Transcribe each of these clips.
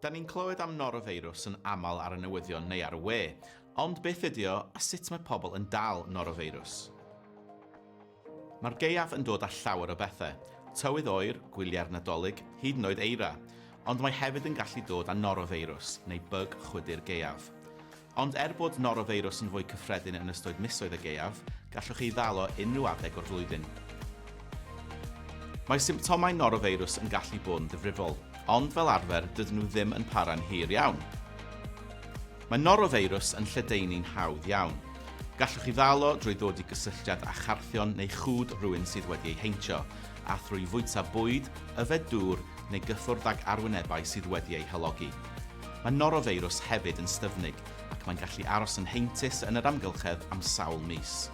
Da ni'n clywed am norofeirws yn aml ar y newyddion neu ar y we, ond beth ydy o a sut mae pobl yn dal norofeirws? Mae'r gaeaf yn dod â llawer o bethau, tywydd oer, gwyliau'r Nadolig, hyd yn oed eira, ond mae hefyd yn gallu dod â norofeirws neu byg chwydu'r gaeaf. Ond er bod norofeirws yn fwy cyffredin yn ystod misoedd y gaeaf, gallwch ei ddal o unrhyw adeg o'r flwyddyn. Mae symptomau norofeirws yn gallu bod yn ddifrifol, ond fel arfer dydyn nhw ddim yn para'n hir iawn. Mae norofeirws yn lledaenu'n hawdd iawn. Gallwch ei ddal o drwy ddod i gysylltiad â charthion neu chŵd rhywun sydd wedi ei heintio, a thrwy fwyta bwyd, yfed dŵr neu gyffwrdd ag arwynebau sydd wedi eu halogi. Mae norofeirws hefyd yn styfnig ac mae'n gallu aros yn heintus yn yr amgylchedd am sawl mis.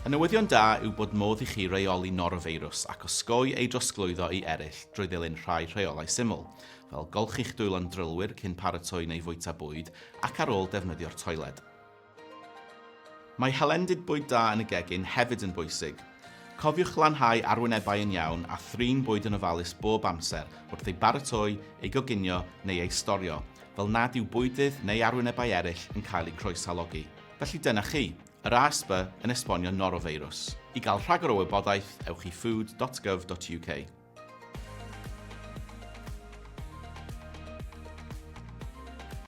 Y newyddion da yw bod modd i chi reoli norofeirws ac osgoi ei drosglwyddo i eraill drwy ddilyn rhai rheolau syml, fel golchi'ch dwylo'n drylwyr cyn paratoi neu fwyta bwyd ac ar ôl defnyddio'r toiled. Mae hylendid bwyd da yn y gegin hefyd yn bwysig. Cofiwch glanhau arwynebau yn iawn a thrin bwyd yn ofalus bob amser wrth ei baratoi, ei goginio neu ei storio, fel nad yw bwydydd neu arwynebau eraill yn cael eu croeshalogi. Felly dyna chi, yr ASB yn esbonio norofeirws. I gael rhagor o wybodaeth, ewch i food dot gov dot uk.